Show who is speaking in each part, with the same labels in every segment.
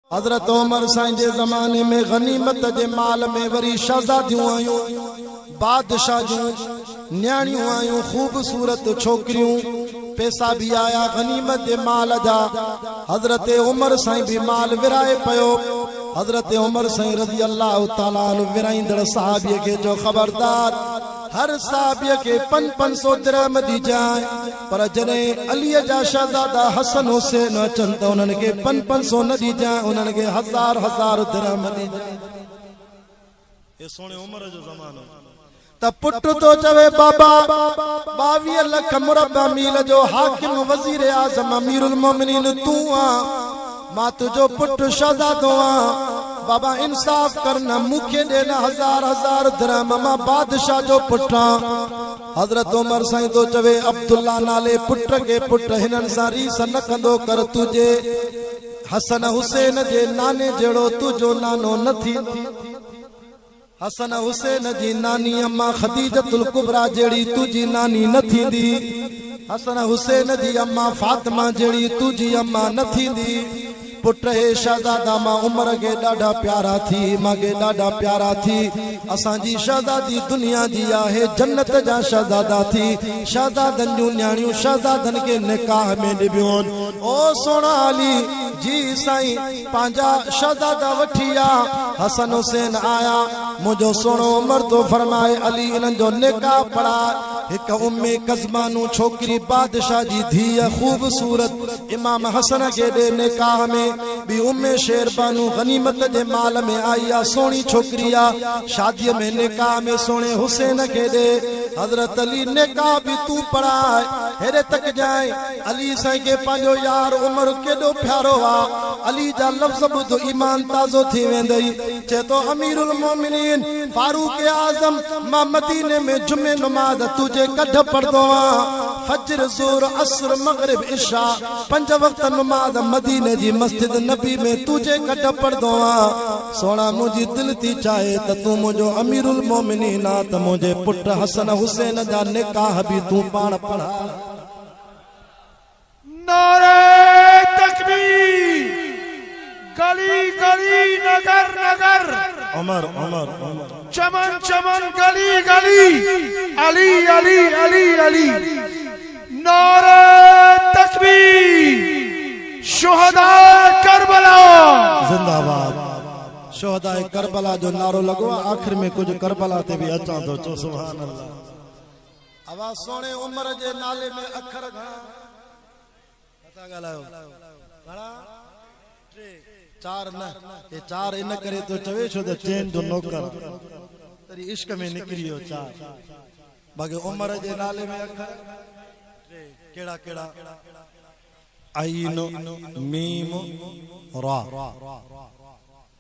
Speaker 1: حضرت عمر سائين جي زماني ۾ غنيمت جي مال ۾ وري شهزاديون آيون، بادشاهه جون نياڻيون آيون، خوبصورت ڇوڪريون، پيسا به آيا غنيمت جي مال جا، حضرت عمر سائين به مال ورهائي پيو، حضرت عمر سائين رضي الله تعالٰي عنه ورهائيندڙ صحابي کي چيو خبردار هر صحابي کي پنج پنج سو درهم ڏجانء. پر جڏهن عليء جا شهزادا حسن حسين اچن ته انهن کي پن پن سو نه ڏجانء انهن کي هزار هزار درهم ڏجانء. اي سهڻي عمر جو زمانو. ته پٽ ٿو چوي بابا ٻاويهه لک مربع ميل جو حاڪم وزير اعظم امير المومنين تون آن مان تنهنجو پٽ شهزادو آن بابا انصاف ڪر نه مون کي ڏي نه هزار هزار درهم مان بادشاهه جو پٽ آن. حضرت عمر سائين ٿو چوي عبدالله نالي پٽ کي پٽ هنن سان ريس نه ڪندو ڪر تنهنجي حسن حسين جي ناني جهڙو تنهنجو نانو نه ٿيندو حسن حسين جي ناني امان خديجة الڪبريٰ جهڙي تنهنجي ناني نه ٿيندي حسن حسين جي امان فاطمه جهڙي تنهنجي امان نه ٿيندي. پٽ هي شهزادا مان عمر کي ڏاڍا پيارا ٿي مان کي ڏاڍا پيارا ٿي اسان جي شهزادي دنيا جي آهي جنت جا شهزادا ٿي شهزادن جون نياڻيون شهزادن کي نڪاح ۾ ڏبيون او سهڻا علي جي سائين پنهنجا شهزادا وٺي آ حسن حسين آيا منهنجو سهڻو عمر ٿو فرمائي علي انهن جو نڪاح پڙهاء هڪ امي قزمانو ڇوڪري بادشاهه جي ڌيء خوبصورت امام حسن کي ڏي نڪاح ۾ ٻي ام شير بانو غنيمت جي مال ۾ آئي آ سهڻي ڇوڪري آ شادي ۾ نڪاح ۾ سهڻي حسين کي ڏي حضرت علي نڪاح به تون پڙهاء هيڏي تڪ جانء علي سائين کي پنهنجو يار عمر ڪيڏو پيارو آ علي جا لفظ ٻڌ ايمان تازو ٿي ويندئي. چئي ٿو امير المومنين فاروق اعظم مان مديني ۾ جمعي نماز تنهنجي ڪڍ پڙهندو هئان. فجر، ظهر، عصر، مغرب، عشاء پنج وقت نماز مديني جي مسجد نبي ۾ تنهنجي ڪڍ پڙهندو هئان. سهڻا منهنجي دل ٿي چاهي ته تون منهنجو امير المومنين آن ته منهنجي پٽ حسن حسين جا نڪاح به تون پاڻ پڙهاء.
Speaker 2: نعري تڪبير گلي گلي نگر نگر عمر عمر
Speaker 1: عمر چمن چمن
Speaker 2: گلي گلي علي علي علي علي نعري تڪبير شهداء ڪربلا زنده
Speaker 1: آباد شهداء ڪربلا جو نعرو لڳو آخر ۾ ڪجهه ڪربلا تي به اچان ٿو چو سبحان الله اوا سهڻي عمر جي نالي ۾ اکر گهڻا نه ٿا ڳالهايو گهڻا ٽي چار نه هي چار ان ڪري ٿو چوي ڇو ته چين جو نوڪر تري عشق ۾ نڪري ويو چار باقي عمر جي نالي ۾ اکر ٽي ڪهڙا ڪهڙا عين ميم را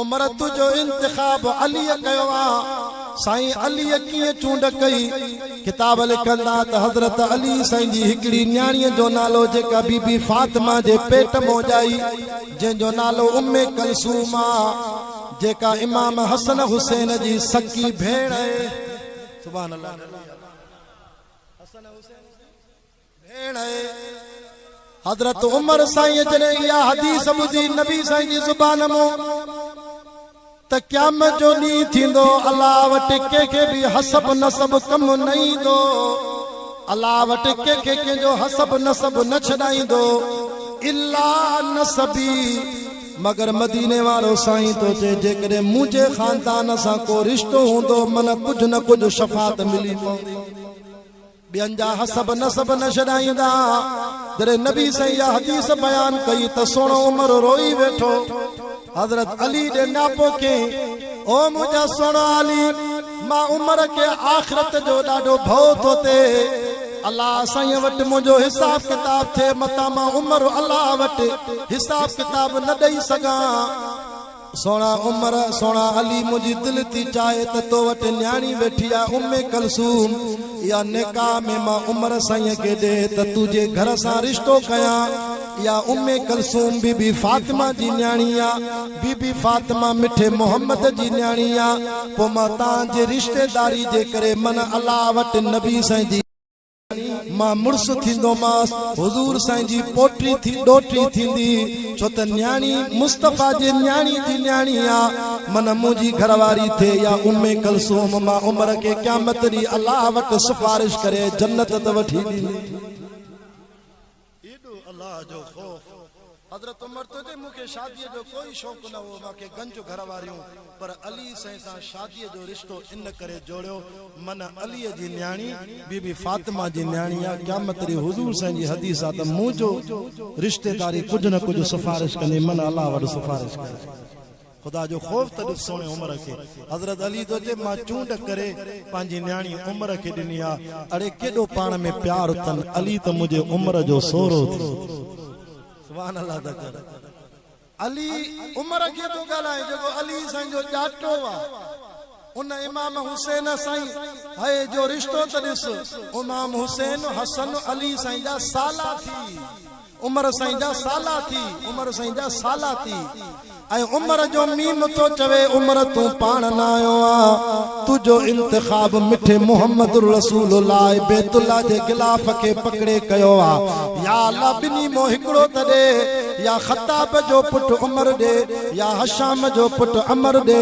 Speaker 1: امرت جو انتخاب عليء ڪيو ها. سائين عليء ڪيئن چونڊ ڪئي؟ ڪتاب لکن ٿا ته حضرت علي سائين جي هڪڙي نياڻيء جو نالو جيڪا بي بي فاطمه جي پيٽ مون ڄائي جنهن جو نالو ام ڪلثوم آ جيڪا امام حسن حسين جي سڪي ڀيڻ ۽ سبحان الله حسن حسين جي ڀيڻ اي! حضرت عمر سائين جڏهن اها حديث ٻڌي نبي سائين جي زبان مون ته قيامت جو ڏينهن ٿيندو الله وٽ ڪنهن کي به حسب نسب ڪم نه ايندو الله وٽ ڪنهن کي ڪنهن جو حسب نسب نه ڇڏائيندو الا نسبي مگر مديني وارو سائين ٿو چئي جيڪڏهن منهنجي خاندان سان ڪو رشتو هوندو من ڪجهه نه ڪجهه شفاعت ملي پوندي. ٻين جا حسب نسب نه ڇڏائيندا. جڏهن نبي سائين اها حديث بيان ڪئي ته سهڻو عمر روئي ويٺو. حضرت علي ڏي نياپو ڪيائين، او منهنجا سهڻا علي! مان عمر کي آخرت جو ڏاڍو ڀئو ٿو ٿئي. الله سائين وٽ منهنجو حساب ڪتاب ٿئي متان مان عمر الله وٽ حساب ڪتاب نه ڏئي سگهان. سهڻا عمر سهڻا علي منهنجي دل ٿي چاهي ته تو وٽ نياڻي ويٺي آ ام ڪلثوم اها نڪاح ۾ مان عمر سائين کي ڏي ته تو جي گهر سان رشتو ڪيان اها ام ڪلثوم بي بي فاطمه جي نياڻي آ بي بي فاطمه مٺي محمد جي نياڻي آ پو مان تان جي رشتيداري جي ڪري من الله وٽ نبي سائين جي مان مڙس ٿيندومانس، حضور سائين جي پوٽي ٿي ڏوهٽي ٿيندي، ڇو ته نياڻي مصطفيٰ جي نياڻي جي نياڻي آ، من منهنجي گهر واري ٿئي يا ام ڪلثوم، مان عمر کي قيامت ڏينهن الله وٽ سفارش ڪري جنت ته وٺي ڏيندي. ايڏو الله جو خوف. حضرت عمر چوندي مون کي شاديء جو ڪوئي شوق نه هو، مان کي گنج گهر واريون، پر علي سائين سان شاديء جو رشتو ان ڪري جوڙيو، من عليء جي نياڻي بي بي فاطمه جي نياڻي آ، قيامت ڏينهن حضور سائين جي حديث آ ته منهنجو رشتيداري ڪجهه نه ڪجهه سفارش ڪندي، من الله وٽ سفارش ڪري ڇڏيندي. خدا جو خوف ته ڏس سهڻي عمر کي. حضرت علي ٿو چئي مان چونڊ ڪري پنهنجي نياڻي عمر کي ڏني آ. اڙي ڪيڏو پاڻ ۾ پيار اٿن علي ته منهنجي عمر جو سهرو ٿي. سبحان الله ته ڪر علي عمر کي ٿو ڳالهائين جيڪو علي سائين جو ڄاٽو آ. ان امام حسين سائين هيء جو رشتو ته ڏس، امام حسين، حسن، علي سائين جا سالا ٿي، عمر سائين جا سالا ٿي، عمر سائين جا سالا ٿي ۽ عمر جو ميم ٿو چوي، عمر تون پاڻ نه آيو آهين، تنهنجو انتخاب مٺي محمد رسول الله بيت الله جي غلاف کي پڪڙي ڪيو آهي، يا الله ٻنهي مان هڪڙو ته ڏي. يا خطاب جو پٽ عمر ڏي يا هشام جو پٽ عمر ڏي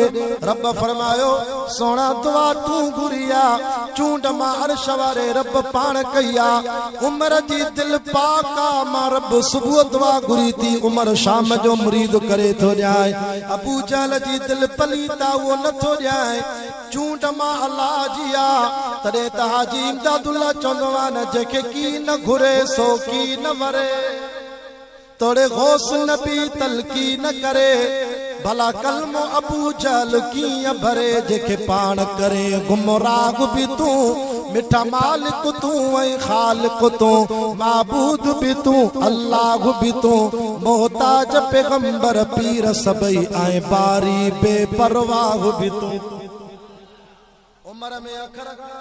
Speaker 1: رب فرمايو سهڻا دعا تون گهري آ چونڊ مان عرش واري رب پاڻ ڪئي آ عمر جي دل پاڪ آ مان رب صبح دعا گهري ٿي عمر شام جو مريد ڪري ٿو ڏيانء ابوجهل جي دل پليت آ اهو نه ٿو ڏيانء چونڊ مان الله جي آ تڏهن ته حاجي امداد الله چوندو آ نه جنهن کي ڪي نه گهري سو ڪي نه وري. توڙي غوث نبي تلقين ڪري، ڀلا ڪلمو ابو جهل ڪيئن ڀري، جنهن کي پاڻ ڪرين گمراهه به تون، مٺا مالڪ تون ۽ خالق تون، معبود به تون الله به تون، محتاج پيغمبر پير سڀئي ۽ باري بي پرواهه به تون. عمر ۾ اکر کان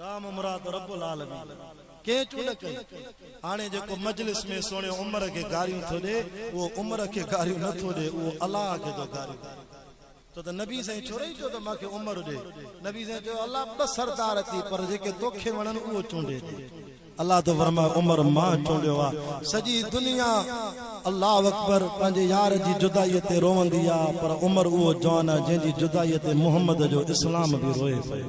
Speaker 1: رام مراد رب العالمين ڪنهن چون نه ڪئي هاڻي جيڪو مجلس ۾ سهڻي عمر کي گاريون ٿو ڏي اهو عمر کي گاريون نه ٿو ڏي اهو الله کي ٿو گاريون ڏي ڇو ته نبي سائين ڇورئي چيو ته مان کي عمر ڏي نبي سائين چيو الله ٻه سردار اٿئي پر جيڪي توکي وڻن اهو چونڊي ڏي الله ٿو فرمائي عمر مان چونڊيو آهي سڄي دنيا الله اڪبر پنهنجي يار جي جدائي تي روئندي آهي پر عمر اهو جوان آهي جنهن جي جدائي تي محمد جو اسلام به روئي پيو